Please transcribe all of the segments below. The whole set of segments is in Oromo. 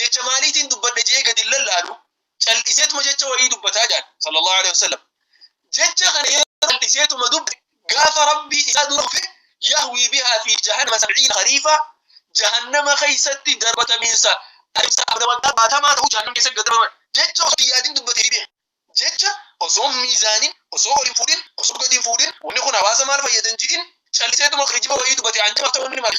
jecha maaliitiin dubbadhe je'ee gadi lallaalu cal'iseetuma jecha wahii dubbataa jedhan sallallahu alaihi wasallam jecha kana yeroo cal'iseetuma dubbe gaafa rabbii isaa dura dhufe yahwii bihaa fi jahannama sab'iina khariifa jahannama keessatti darbatamiinsa adeemsa abda waggaa baatamaa ta'uu jahannama keessatti gad darbaman jecha osoo yaadin dubbatee fi jecha osoo miizaanin osoo ol hin fuudhin osoo gadi hin fuudhin wanni kun hawaasa maal fayyadan ji'in calliseetuma kijiba wayii dubbate anjamaaf ta'uu inni maali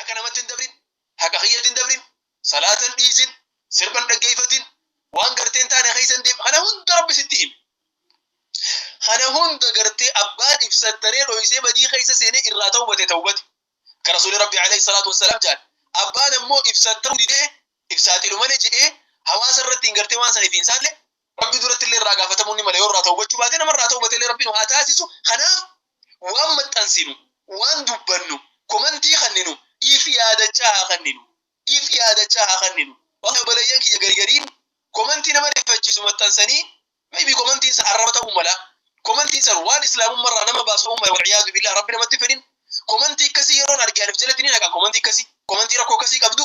haqa namatti hin dabrin haqa kiyyatti hin dabrin salaatan dhiisin sirban dhaggeeffatin waan gartee hin taane keessa hin deem kana hunda rabbi sitti hime kana hunda gartee abbaan ibsattanee dhoysee badii keessa seenee irraa tawbate tawbate ka rasuuli rabbi alayhi salaatu wassalaam jedhan abbaan ammoo ibsatta'uu didee ibsaaxilumane jedhee hawaasa irratti hin gartee waan saniif hin saalle Rabbi duratti illee irraa gaafatamuun ni mala yoo irraa tawbachuu baate nama irraa tawbate illee rabbiin haa taasisu kanaaf waan maxxansinu waan dubbannu komantii kanninu if yaadachaa haa kanninu if yaadachaa haa kanninu waan oboleeyyan kiyya garigariin komantii nama rifachiisu maxxansanii maybe komantiin san arraba ta'uu mala komantiin san waan islaamummaa irraa nama baasu ta'uu mala walciyaadu billaa rabbi namatti fedhin komantii akkasii yeroon arge anif jalatti ni naqa komantii akkasii komantii rakkoo akkasii qabdu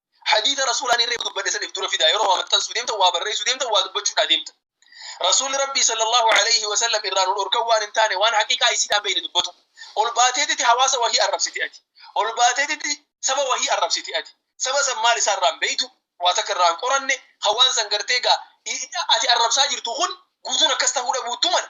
Hadiisa Rasuulaa inni reefu dubbadhe san if dura fidaa yeroo waa maxxansuu deemtan waa barreessuu deemtan waa dubbachuudhaa deemtan. Rasuulli Rabbii sallallahu alayhi wa sallam irraa nu dhorkan waan hin taane waan haqiiqaa isiidhaan beeyne dubbatu. Ol baateetitti hawaasa wahii arrabsite ati. Ol baateetitti saba wahii arrabsite ati. Saba san maal isaa irraa hin beeytu, waa takka irraa hin qoranne, kan waan san gartee gaa ati arrabsaa jirtu kun guutuun akkas tahuu dhabuuttu mala.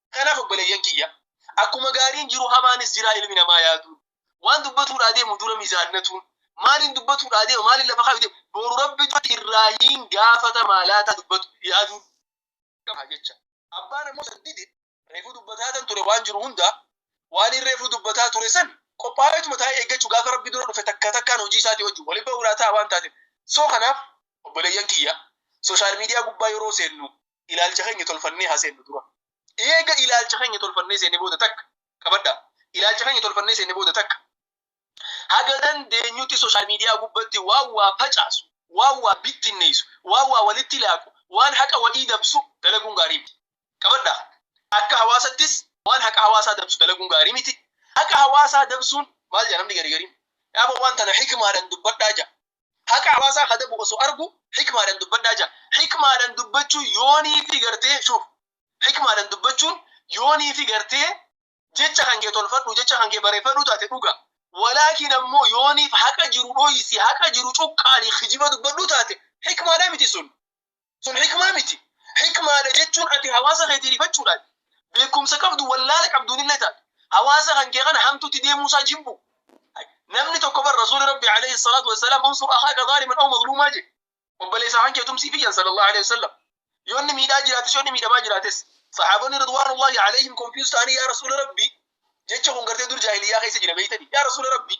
Kanaaf obboleeyyan kiyya akkuma gaariin jiru hamaanis jiraa ilmi namaa yaadu. Waan dubbatuudhaa deemu dura mizaannatuun maaliin dubbatuudhaa deema maaliin lafa kaayu deema boru rabbi duratti irraa hin gaafata maalaataa dubbatu yaaduu qaba jecha. Abbaan ammoo san dide reefuu dubbataatan ture waan jiru hundaa waaniin reefuu dubbataa ture san qophaa'eetuma taa'ee eeggachu gaafa rabbi dura dhufe takka takkaan hojii isaatii wajjin wali bahuudhaa ta'a waan taateef. So kanaaf obboleeyyan kiyya social media gubbaa yeroo seennu ilaalcha keenya tolfannee haa seennu dura. Eega ilaalcha keenya tolfannee seenne booda takka qabadha. Ilaalcha keenya tolfannee seenne booda takka haga dandeenyutti sooshaal miidiyaa gubbatti waan waa facaasu, waan waa bittinneessu, waan waa walitti laaqu, waan haqa walii dabsu dalaguun gaarii miti. Qabadha. Akka hawaasattis waan haqa hawaasaa dabsu dalaguun gaarii miti. Haqa hawaasaa dabsuun maal jedha namni gari gariin? Yaaba waan tana hikmaadhaan dubbadhaa jedha. Haqa hawaasaa ka dabu osoo argu hikmaadhan dubbadhaa ja'a. Hikmaadhan dubbachuu yoonii fi gartee shuf hikmaadhan dubbachuun yoonii fi gartee jecha kan kee tolfadhu jecha kan kee bareefadhu taate dhuga. Walaakin ammoo yooniif haqa jiru dhoysi haqa jiru cuqqaali kijiba dubbadhu taate hikmaadha miti sun. Sun hikmaa miti. Hikmaadha jechuun ati hawaasa keetii rifachuudhaan beekumsa qabdu wallaala qabduun illee taate hawaasa kan kee kana hamtuutti deemuu isaa jibbu. Namni tokko bar Rasuuli Rabbi alayhi salaatu wassalaam unsur akhaaka zaaliman aw mazluumaa jedhe. Obboleessa kan kee tumsii fiyyan sallallahu alayhi wasallam. Yoo inni miidhaa jiraates yoo inni miidhamaa jiraates sahaabonni ridwaanullahi alayhim konfiyuus ta'anii yaa Rasuula Rabbi jecha kun gartee dur jaahiliyyaa keessa jira beeytanii yaa Rasuula Rabbi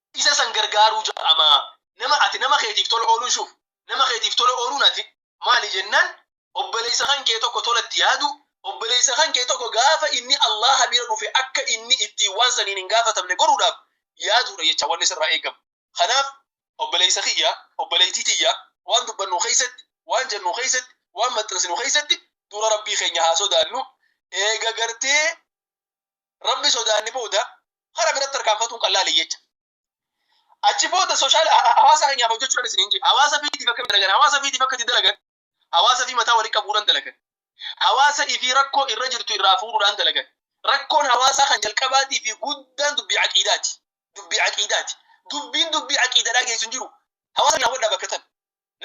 isa san gargaaruu ja'ama. Nama ati nama keetiif tola ooluun shuuf nama keetiif tola ooluun ati maali jennaan obboleeysa kan kee tokko tola itti yaaduu obboleeysa kan kee tokko gaafa inni Allaaha bira dhufe akka inni ittiin waan saniin hin gaafatamne godhuudhaaf yaaduudha jecha wanni sirraa eegamu. Kanaaf obboleeysa kiyya obboleeytii tiyya waan dubbannu keeysatti waan jennu keeysatti waan maxxansinu keeysatti dura Rabbii keenya haa sodaannu eega gartee Rabbi sodaanne booda hara biratti tarkaanfatuun kan laale jecha. Achi booda sooshaal hawaasa keenyaaf hojjechuudhaan isin hin jedhu. Hawaasa fiitiif akka dalagan, hawaasa fiitiif akka itti dalagan, hawaasa fi mataa walitti qabuudhaan dalagan. Hawaasa ifii rakkoo irra jirtu irraa fuudhuudhaan dalagan. Rakkoon hawaasaa kan jalqabaatii fi guddaan dubbii aqiidaati. Dubbii aqiidaati. Dubbiin dubbii aqiidadhaa geessu hin jiru. Hawaasa keenyaaf wadhaa bakka tan.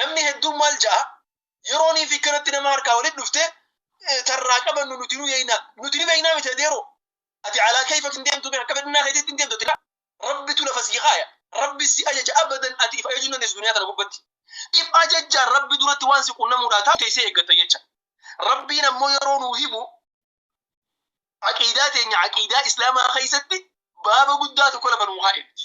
Namni hedduun maal ja'a? Yeroonii fi kanatti nama harkaa walitti dhufte tarraa qabannu nuti nu yeeynaa. Nuti ni beeynaa miti adeeroo. Ati alaa keeyfak hin deemtu akka fedhinnaa keetitti hin deemtu ati laa. Rabbitu lafa sii kaaya. Rabbi si ajaja abadan ati if ajajuu hin dandeessu duniyaa tana gubbatti. If ajajjaan Rabbi duratti waan si qunnamuudhaa taatu teeysee eeggatta jecha. Rabbiin ammoo yeroo nuu himu aqiidaa teenya aqiidaa islaamaa keeysatti baaba guddaa tokko lafa nuu kaayee miti.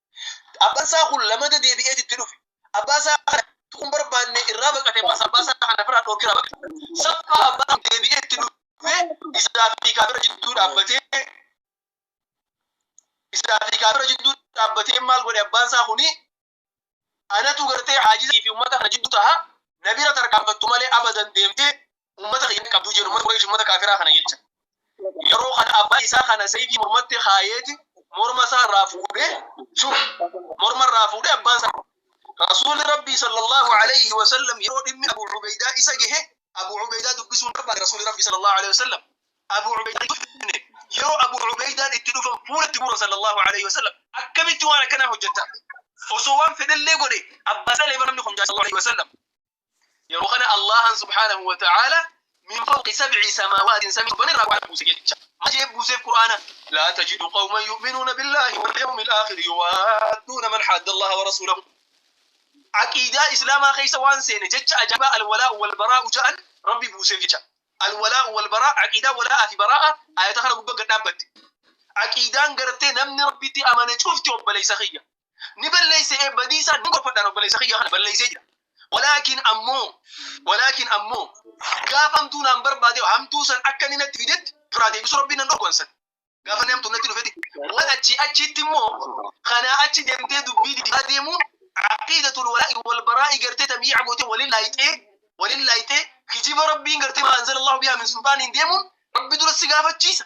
Abbaan isaa kun lamada deebi'eet itti dhufe. Abbaa isaa kana tuquu hin barbaanne irraa baqate ammas abbaa isaa kana biraa dhoorkee irraa baqate. Saffaa abbaan kun deebi'ee itti dhufee isaa fi kaafira jidduu dhaabbatee isaa fi kaafira jidduu dhaabbatee maal godhe abbaan isaa kuni anatu gartee haajizii fi ummata kana jidduu taha na bira tarkaanfattu malee abadan deemtee ummata kiyya qabduu jedhu ummata Quraysh ummata kaafiraa kana jecha. Yeroo kana abbaa isaa kana sayfii mormatti kaayeeti morma isaa irraa fuudhee shuf morma irraa fuudhee abbaan isaa Rasuulli Rabbii sallallahu alayhi wa sallam yeroo dhimmi Abu Ubeydaa isa gahe Abu Ubeydaa dubbisuun barbaade Rasuulli Rabbii sallallahu alayhi wa sallam Abu Ubeydaa dubbifne yeroo Abu Ubeydaan itti dhufan fuulatti buura sallallahu alayhi wa sallam akkamitti waan akkanaa hojjetta osoo waan fedhellee godhe abbaa isaa leefa namni kun jaa sallallahu alayhi wa sallam yeroo kana Allahan subhaanahu wa ta'aala min fawqi sab'i samaawaatiin samii torban irraa qur'aana buuse jecha maal jedhee buuseef qur'aana laa tajidu qawman yu'minuuna billaahi wal yawmi alaakhiri yuwaadduuna man haadda allaha wa rasuulahu aqiidaa islaamaa keessa waan seene jecha ajaa'ibaa alwalaa wal baraa'u ja'an rabbi buuseef jecha alwalaa wal baraa aqiidaa walaa fi baraa'a ayata kana gubba gad dhaabbatte aqiidaan gartee namni rabbitti amane cufti obboleessa kiyya ni balleeyse ee badiisaa ni gorfadhaan obboleessa kiyya kana balleeysee jira walaakin ammoo walaakin ammoo gaafa hamtuu naan barbaade hamtuu san akka inni natti fidetti duraa deebisu rabbiin nan dhorku ansan gaafa inni hamtuu natti dhufeti waan achii achiitti immoo kanaa achi deemtee dubbii dibaa deemuun aqiidatul walaa'i wal baraa'i gartee tabii'a gootee walin laayxee walin laayxee kijiba rabbiin gartee maanzala allahu bihaa min sulxaaniin deemuun rabbi dura si gaafachiisa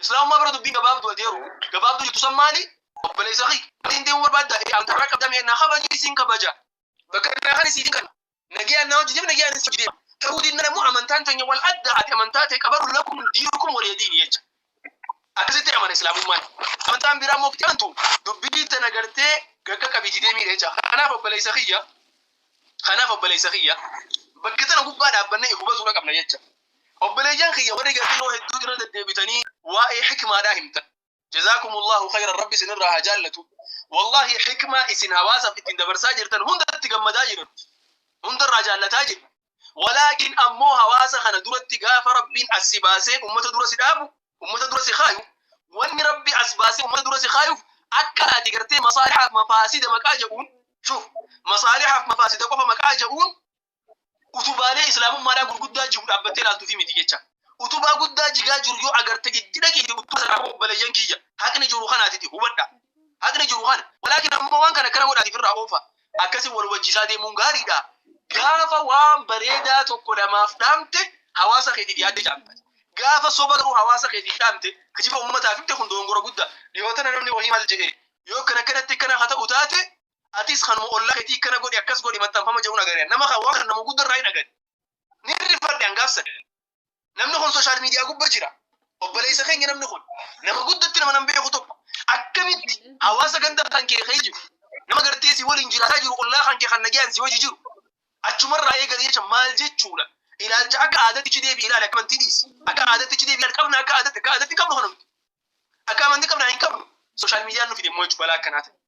Islaamummaa bira dubbiin gabaabduu ati yeroo gabaabduu jettu san maali? Obboleessa kiyya. Ati hin deemu barbaadda. Ee an karra qabda mee na kabaji isin kabaja. Bakka naa kan isiitiin kana. Nagayaan naa hojii deema nagayaan isin hojii deema. Ta'uu dinnaan ammoo amantaan teenya wal adda ati amantaa tee qabadhu lakum diinukum waliya diini jecha. Akkasitti amana Islaamummaan. Amantaan biraa ammoo itti amantu dubbii tana gartee gaggaqabi itti deemiidha jecha. Kanaaf obboleessa kiyya. Kanaaf obboleessa kiyya. Bakka tana gubbaa dhaabbannee hubatuudha qabna jecha. Obboleeyyan kiyya warri gafii yeroo hedduu irra deddeebitanii waa'ee hikmaadhaa himtan. Jazaakumullaahu khayran Rabbi isin irraa haa jaallatu. Wallaahi hikmaa isin hawaasaf ittiin dabarsaa jirtan hundatti gammadaa jirra nuti. Hunda irraa jaallataa jirra. Walaakin ammoo hawaasa kana duratti gaafa Rabbiin as si baasee ummata dura si dhaabu, ummata dura si kaayu, wanni Rabbi as baasee ummata dura si kaayuuf akka ati gartee masaalihaaf mafaasida maqaa ja'uun, shuf, masaalihaaf mafaasida qofa maqaa ja'uun utubaalee islaamummaadhaa gurguddaa jiru dhaabbattee ilaaltuufi miti jecha. Utubaa guddaa jigaa jiru yoo agarte itti dhaqiiti utubaa sana akka obboleeyyan kiyya haqni jiru kanaatiti hubadha. Haqni jiru kana. Walaakin ammoo waan kana akkana godhaatiif irraa oofa. Akkasiin wal hubachiisaa deemuun gaariidha. Gaafa waan bareedaa tokko namaaf dhaamte hawaasa keetiif yaadde jaamta. Gaafa soba garuu hawaasa keetiif dhaamte kijiba ummataaf himte kun doongora guddaa. Dhihoo tana namni wahii maal jedhee yoo akkana akkanatti akkana haa ta'u taate atis kanuma ollaa ketii kana godhi akkas godhi maxxanfama jedhun agare nama kan waan kana nama gudda irraa hin agare ni rifadhe an gaafsan namni kun social media gubba jira obboleessa keenya namni kun nama guddatti nama nan beeku tokko akkamitti hawaasa ganda kan kee kee jiru nama gartee si waliin jiraataa jiru ollaa kan kee kan nagaan si hojii jiru achumarraa eegale jecha maal jechuudha ilaalcha akka aadatti deebi ilaali akka amantii dhiisi akka aadatti deebi ilaali qabna akka aadatti akka aadatti qabnu kanumti akka amantii qabna hin qabnu social media nu fide immoo jechuudha balaa akkanaa ta'e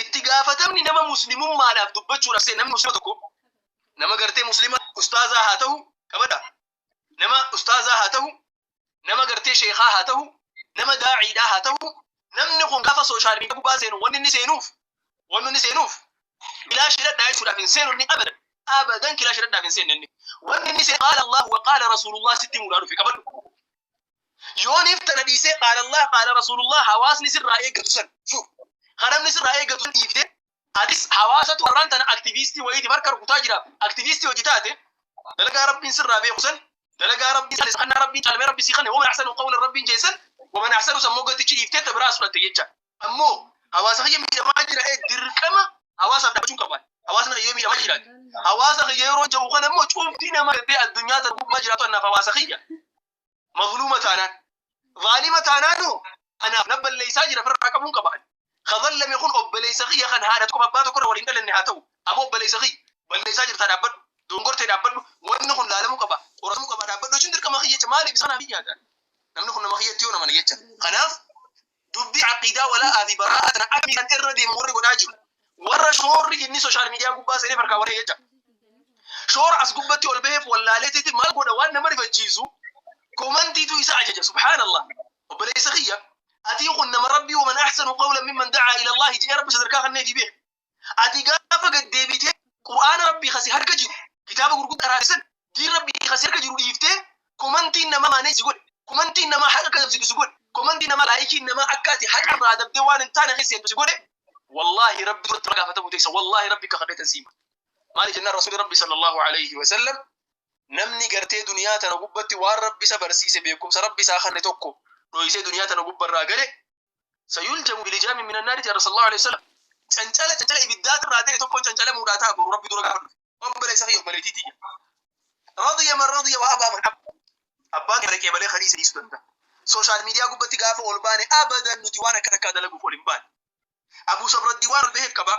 Itti gaafatamni nama muslimummaadhaaf dubbachuudhaaf seena namni muslima tokko nama gartee muslima ustaazaa haa ta'u qabadha nama ustaazaa haa ta'u nama gartee sheekaa haa ta'u nama daa'iidhaa haa ta'u namni kun gaafa sooshaal miidiyaa gubbaa seenu wanni inni seenuuf wanni inni seenuuf kilaashii dhadhaa jechuudhaaf hin seenu inni abadan abadan kilaashii dhadhaaf hin seenne inni wanni inni seenu qaala Allahu wa qaala Rasuulullah sitti muudhaa dhufe qabadhu Yooniif tana dhiisee qaala Allah qaala Rasuulullah hawaasni sirraa eeggatu san fu kanamni sirraa eeggatu san dhiibde atis hawaasatu arraan tana aktiviistii wayiiti barka rukutaa jira aktiviistii hojii taate dalagaa rabbiin sirraa beeku san dalagaa rabbiin san isa kannaa rabbiin caalmee rabbi si kanne waman ahsanu qawlan rabbiin jeen san waman ahsanu san moggatichi dhiiftee ta biraa sudhatte jecha ammoo hawaasa kiyya miidhamaa jira ee dirqama hawaasaaf dhaabachuu qaban hawaasni kiyya miidhamaa jira hawaasa kiyya yeroo ja'u kana immoo cuuftii nama gabbee addunyaa tan gubbaa jiraatu annaaf hawaasa kiyya Mazluuma taanaan. Zaalima taanaanoo anaaf na balleessaa jira firraa qabuun qaba ani. Ka zallame kun obboleessa kiyya kan haadha tokko abbaa tokko irra waliin dhalanne haa ta'u. Ammoo obboleessa kiyya balleessaa jirtaa dhaabbadhu. Dongortee dhaabbadhu. Wanni kun laalamuu qaba. Qoratamuu qaba dhaabbadhu jechuun dirqama kiyya jecha maaliif isaan haa fiyyaatan? Namni kun nama kiyyatti yoo namana jecha. Kanaaf Dubbii aqiidaa wala'aa fi baraa'aa tana akkamiitan irra deemu warri godhaa jiru. Warra shoorri inni soshaal miidiyaa gubbaa seenee farkaa waree jecha. Shoora as gubbatti ol baheef wallaaleetitti maal godha waan nama rifachiisu komantiitu isa ajaja subhaanallah. Obboleessa kiyya atii kun nama rabbii waman ahsanu qawlan mimman da'aa ila Allahi jedhee rabbi sadarkaa kannee fi beeku. Ati gaafa gad deebitee Qur'aana Rabbii kasi harka jiru, kitaaba gurguddaa irraa san, diin Rabbii kasi harka jiru dhiiftee komantiin namaa maanee si godhe, komantiin namaa haqa akka dabsitu si godhe, komantiin namaa laayikiin namaa akka ati haqa irraa dabdee waan hin taane keessa seentu si godhe, wallaahi Rabbi duratti waan gaafatamuu teessa wallaahi Rabbi kakadheetan si hima. Maaliif jennaan Rasuulli Rabbii sallallaahu aleyhi wa sallam namni gartee duniyaa tana gubbatti waan Rabbi isa barsiise beekumsa Rabbi isaa kanne tokko dhoysee duniyaa tana gubba irraa gale sayuljamu bilijaami min annaari jedha sallallahu alaihi wasallam cancala cancala ibiddaa irraa ta'e tokkoon cancalamuudhaa ta'a boru rabbi dura gaafa dhufe obboleessa fi obboleettii tiyya radiya man radiya wa abaa man abba abbaan kee dhaqee malee kan isa dhiisuu danda'a sooshaal miidiyaa gubbatti gaafa ol baane abadan nuti waan akka takkaa dalaguuf ol hin baane abuu sabraddiin waan ol baheef qabaa